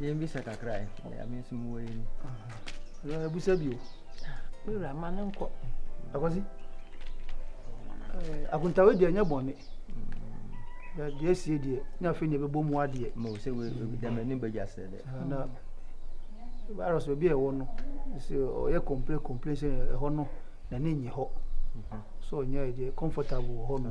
yɛn bisa kakra ɛ ɛyà mi nso mu wɔ yɛn ni ɛyà ebusa bi o. mi wura ma ne nkɔ. akwasi akuntawe deɛ nyɛ bɔnne deɛ esie deɛ ne afei deɛ bɛbɔ mu adeɛ. mo sɛ wo dɛm ɛni bɛ gya sɛ dɛ. na virus baabi a ɛwɔ no sɛ ɔyɛ complain complain sɛ ɛhɔ no na ne nyɛ hɔ so ɔnyɛ ɛdeɛ comfortable wɔ hɔ no.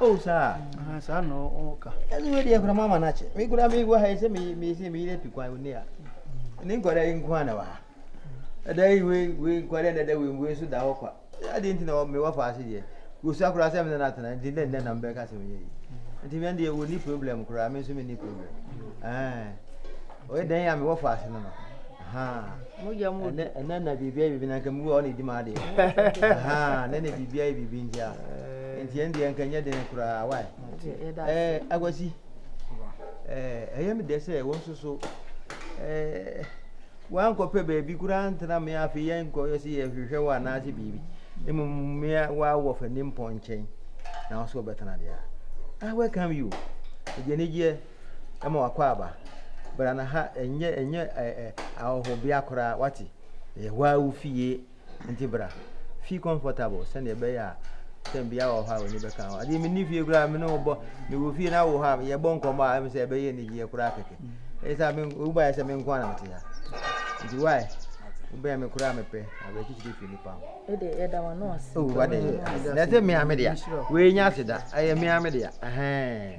Oh, saa. Aha, saa na ɔka. Ɛno wei deɛ kora mama no akyɛ. Me kora mewɔ ha yi sɛ meyɛ meyere atu kwan woni a. Ne nkwadaa yi nko a na wɔ ha. Ɛda yi wei wei nkwadaa na ɛda wei wei nso da hɔ kwa. Adeɛ nti na mewɔ fa ase deɛ. Wɔsua koraa sɛ mene no atena nti dɛ nnɛ na mebɛka sɛ meyɛ yi. Nti mɛn deɛ wɔnni problem koraa me nso menni problem. Ɔyɛ dɛn a mewɔ fa ase no no. ɛnɛ na biribia yɛ biribi na nka mewu a ɔna ɛdi ma adeɛ nɛ na biribia yɛ biribi nti a nti ɛn deɛ nka nyɛ den koraa wae akwasi ɛyɛ me dɛ sɛ wo nso so wankɔpɛ baabi koraa ntena me afei yɛnkɔyɛ sɛ yɛhwehwɛ wɔ anaasɛ biribi mmom mea waawɔ fa nimpɔ nkyɛn na wo so wɔbɛtena deɛ a I welcome you. Ɛdeɛ ne gyeɛ ma w'akwaaba. Bra na ha ɛnyɛ ɛnyɛ ɛɛ ahɔhobea koraa wate. Ɛyɛ hɔ ara wo fie nti bra. Feel comfortable sɛdeɛ ɛbɛyɛ a sɛ bia wɔ hɔ a w'ani bɛka ho. Adeɛ menni fie koraa me ne wo bɔ me wɔ fie na wo hɔ a yɛbɔ nkɔmmɔ a ɛm sɛ ɛbɛyɛ anigyeɛ koraa kɛkɛ. Ɛyɛ sɛ me wo baeɛ sɛ me nko ara na mete ha. Nti why wobɛn me koraa mepɛ awerɛkyekyerɛ fi nipa ho. Ɛde yɛda wɔn ano ase. Oh wade na ɛsɛ mmea me dea. Wei nya ase da ɛyɛ mmea me dea. Ɛhɛn.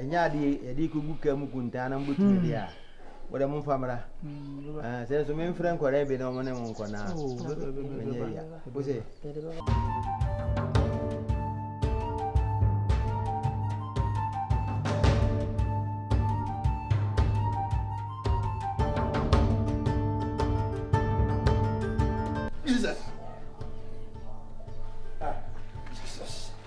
ɛnyɛ adeɛ yɛde kɔgu ka mu kuntaa na mobɛtumi deɛ a wɔde mo mfa mmra sɛ nso memfrɛ nkɔrɛ bi na ɔmo ne mo nkɔ no a menyɛ wia wo sɛ Jesus.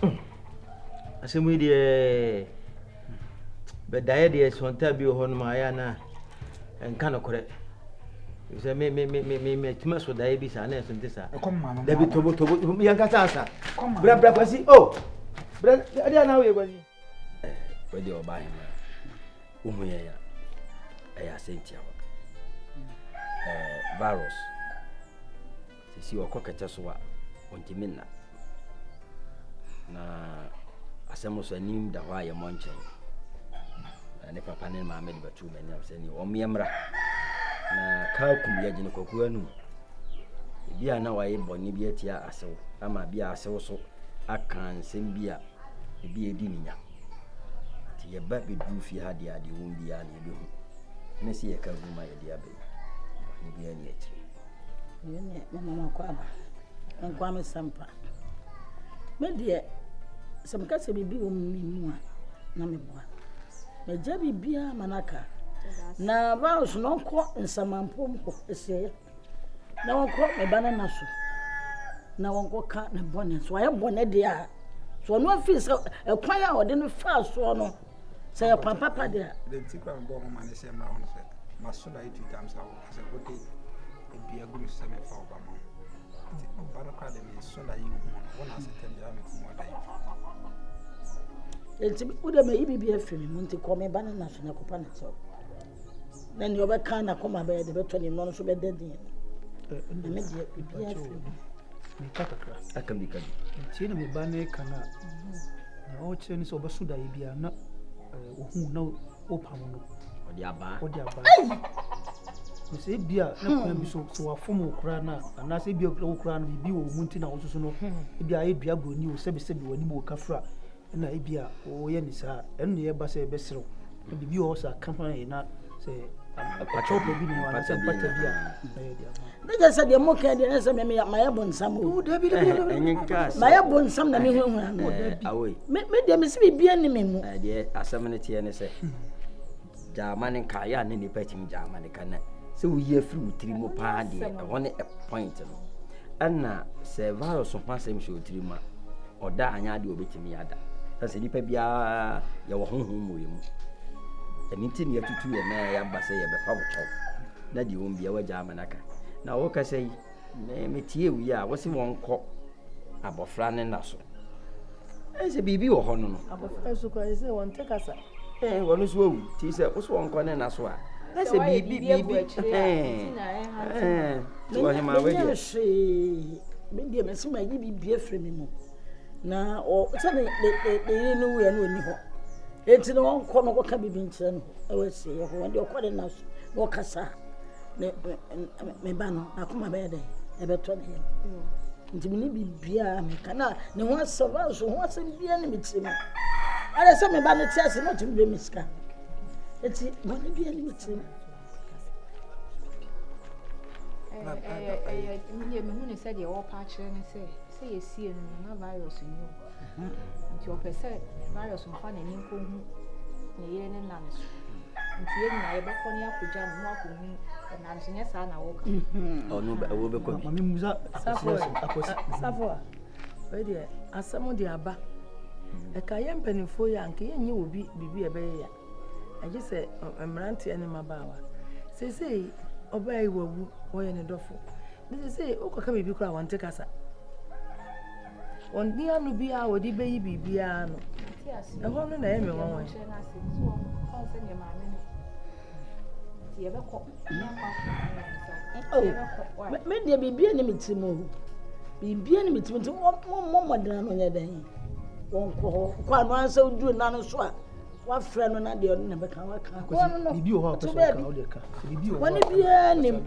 Hmm. Asɛm yi deɛ bɛdaeɛ deɛ sɔntaa bi wɔ hɔ nom a ɛyɛ na ɛnka nokorɛ. Sɛ me me me me me matumi aso daeɛ bi saa na ɛso nte saa. Dabi tobo tobo yɛnkasa asa. Bra bra kwasi o. Oh. Bra ɛdeɛ na woyɛ kwasi. wei deɛ ɔba ahema wohu yɛn a ɛyɛ asɛntiawa virus sisi ɔkɔ kɛtɛ so a ɔntumi nna na asɛm so anim da hɔ a yɛmmɔ nkyɛn na ne papa ne maame de bɛtoo m'anim sɛ ne ɔmeɛ mmra na kaa kum yɛgyene kwakuo anum ebi a na wayɛ bɔne bi atia asew ama bi a asew so aka nsɛm bi a ebi a edi ne nya. Nti yɛba bɛduru fie ha deɛ adeɛ wɔm biara na yɛbɛhu. Ɛne sɛ yɛka gu ma yɛde aba yi. Bɔne biara ni akyire. Yɛn deɛ mema makɔ aba. Nkoa me sɛmpa. Me deɛ sɛ meka sɛ biribi wɔ mu me mu a na meboa. Magya biribiara ma no aka. Na vows no nkɔ nsamanpom hɔ ɛsɛ Na wɔnkɔ ne ba no nna so, na wɔnkɔka ne bɔne. So wayɛ bɔne deɛ a, so ɔno afiri sɛ ɛkwan a ɔde no faa soɔ no, sɛ yɛ kwan papa deɛ a. Deɛ nti kora mebɔɔ mo ma ne sɛ mmra ho no sɛ, maso da ɛtu tam sa wo sɛ wode dua gu me so sɛ mefa wo ba ma wo. Nti ɔba no kora de me so da yi hu no, wo na ase tam gyina me kum ɔda yi. Nti wode mayi biribi afiri me mu, nti kɔ me ba no nna so na kɔpa ne kyɛw. Na nea ɔbɛka n'akoma bɛyɛ de bɛtɔ ne mmorɔ no so bɛda din. Na me deɛ biribiara firi mu. Meka kakra. Aka bi ka bi. Ntie na me ba ne ka no a, na ɔrekyerɛ ne sɛ ɔbɛso daeɛ biara na ɔhu na ɔpam no. Ɔde abaa. Ɔde abaa. Na sɛ ebi a na kwan bi so sɛ wafom wo koraa no a anaasɛ ebi a wo koraa no biribi wɔ wo mu nti na wososo no ebi a ayɛ dua buroni o sɛbesɛbe w'anim wɔ kafra na ebia wɔyɛ no saa a, ɛno na ɛba sɛ ɛbɛserew. Na biribi wɔ hɔ sɛ aka ho ayɛ na sɛ akyɛwpa bi ne anaasɛ mpata bi a na yɛde ama. Ne kyɛ sɛ deɛ moka deɛ ɛsɛ me meyɛ mayɛ bonsam o. Mayɛ bonsam na mehunhuna no. Me deɛ mese biribiara ni me mu. Deɛ asɛm no teɛ ne sɛ Gyamane ka, yɛ a na nnipa tumi gyamane ka na sɛ woyi afiri wo tiri mu paa deɛ ɛhɔ ne point no ɛna sɛ virus ho asɛm hyɛ wo tiri mu a ɔda anyɛ adeɛ ɔbɛtumi ada ɛna sɛ nnipa biara yɛwɔ honhom mmɔɛ mu ɛno nti ne yɛtutu yɛ na yɛaba sɛ yɛbɛfa wo kyɛw na deɛ wɔn biara gyamane aka na wɔkasa yi Me me tie wi a wosi wɔn kɔ abɔfra ne na so ɛn sɛ biribi wɔ hɔ no no. abɔfra nso kura yi sɛ wɔn tɛ kasa. ɛn wɔn nso awu ti sɛ wosi wɔn kɔ ne na so a ɛn sɛ biribi biribi ɛn ɛn ti wɔ hema wɛ deɛ. hwee me deɛ mɛsi ma yi biribi afiri mi mu na ɔ sɛ ne ne ne ne yiri no wura no ɔni hɔ eti na wɔn kɔ no kɔka biribi nkyerɛ no ɛwɔ ɛsɛ yɛ hɔ wɔn deɛ ɔkɔ ne na so na ɔkasa. me me me ba no, n'akoma bɛyɛ dɛ, ɛbɛtɔ ne yam. Nti me ne biribiara a meka na ne ho asɛm nso ho asɛm biara ne me tirim. Ɛyɛ sɛ me ba no te ase na ɔtumi bɛ me sika. Nti bɔne biara ne me tirim. ɛyɛ ɛyɛ mehu ne sɛ deɛ wɔpa akyerɛ ne sɛ sɛ yɛsie no na virus nni hɔ Hmm. Nti ɔpɛ sɛ Marius mfa n'ani nkɔhu ne yere ne nna no so. Nti yɛn nyinaa yɛbɛkɔ ne akɔgya no na wakɔhu nna no so nyɛ saa na wɔka. Hmm. Ɔno wɔbɛkɔ bi. Mame musa akɔsi. Safo a wei deɛ asɛm de aba. Hmm. Ɛka yɛn mpanimfoɔ yi a nka yɛnyɛ wɔ bi biribi a ɛbɛyɛ ya. Ɛgye sɛ mmeranteɛ ne mmabaawa. Seesei ɔbaa yi wawu wɔyɛ ne dɔfo. Ne seesei wokɔka biribi koraa wɔnte kasa. Wɔnni ano biara a wɔde beyi biribiara ano. Ɛhɔ no na ɛyɛ me nwanwa yi. Oh, me deɛ biribiara ne me tirim o. Biribiara ne me tirim nti wɔmmɔ mmɔden ano nyɛ dɛn. Wɔnkɔ hɔ. Kɔ ano ara sɛ woduru nna no so a wafrɛ no na deɛ ɔno na bɛka waka. Kɔ no no. Biribi wɔ hɔ a ɔpɛ sɛ ɔka, ɔde ka. Biribi wɔ hɔ a ɔpɛ sɛ ɔka. Wɔne biara nim.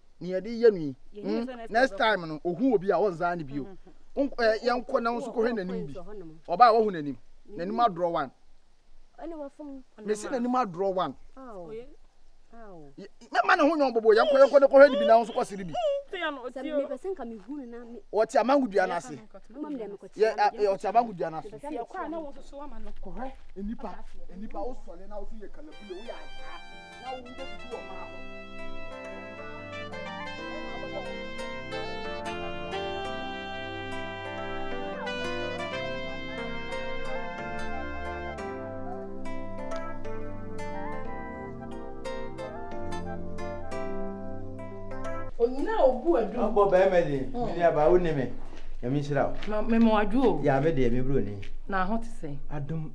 nea yɛde yɛ no yi hmm, next time no ohu obi a ɔnzaa no bio yɛnkɔ na nso kɔhwɛ n'anim bi ɔbaa a wahu n'anim n'anim adorɔ wan mesi n'anim adorɔ wan mɛma ne ho nyɛ ɔbɔbɔ yɛnkɔ yɛnkɔ ne kɔhwɛ ne bi na nso kɔse ne bi ɔte amango dua no ase ɔte amango dua no ase kɔhwɛ nnipa nnipa wosɔre na wosɛ yɛ kalabule woyɛ asaa na wo ho bebutu ɔbaa ho. onyina a obu adu. ɔbɔ bɛrima ni hmm. mene aba wo ne me nyame nhyira wo mema wadwo o yɛ me deɛ mebrɛ ni na ho te sɛ adom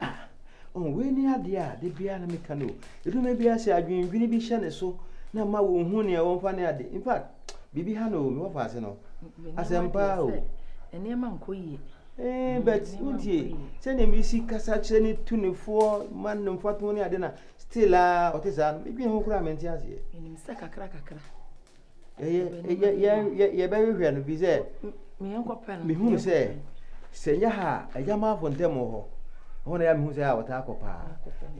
Ah, oh, wei ne adeɛ a da biara na meka no o. Ɛdu me biara sɛ adwendwene bi hyɛ ne so na ma wɔnhu nea wɔmfa ne ade. In fact, biribi ha no o, mewɔ fa ase no. Asɛmpa o. Nneɛma nkɔ yie. Eh, mm, but wontie sɛdeɛ mesi kasa kyerɛ ne tu ne foɔ ma no mfatoho ne ade na still a ɔte saa no medwene ho koraa mente aseɛ. Menim sɛ kakra kakra. Yɛbɛhwehwɛ no fi sɛ mehunu sɛ sɛ nyɛ ha a agyamanfo ntam wɔ hɔ ɛhɔ na yɛ mehu sɛ a wɔtaa kɔ paa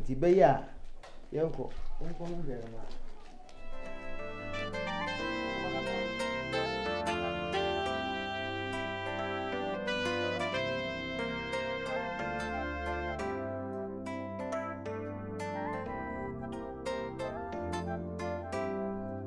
nti bɛyɛ a yɛnkɔ yɛnkɔ no hwɛ no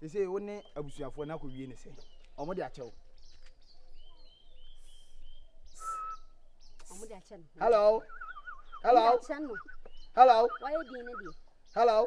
sese wo ne abusuafoɔ no akɔ wie ne sɛ ɔmo de akyɛ wo hello hello hello hello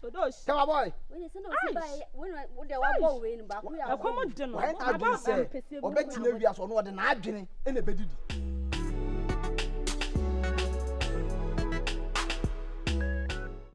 Todos. Tell boy. Ɛkɔm de no. Wɔn adwene sɛ ɔbɛtena wiase ɔno ɔde n'adwene na ɛbɛdidi.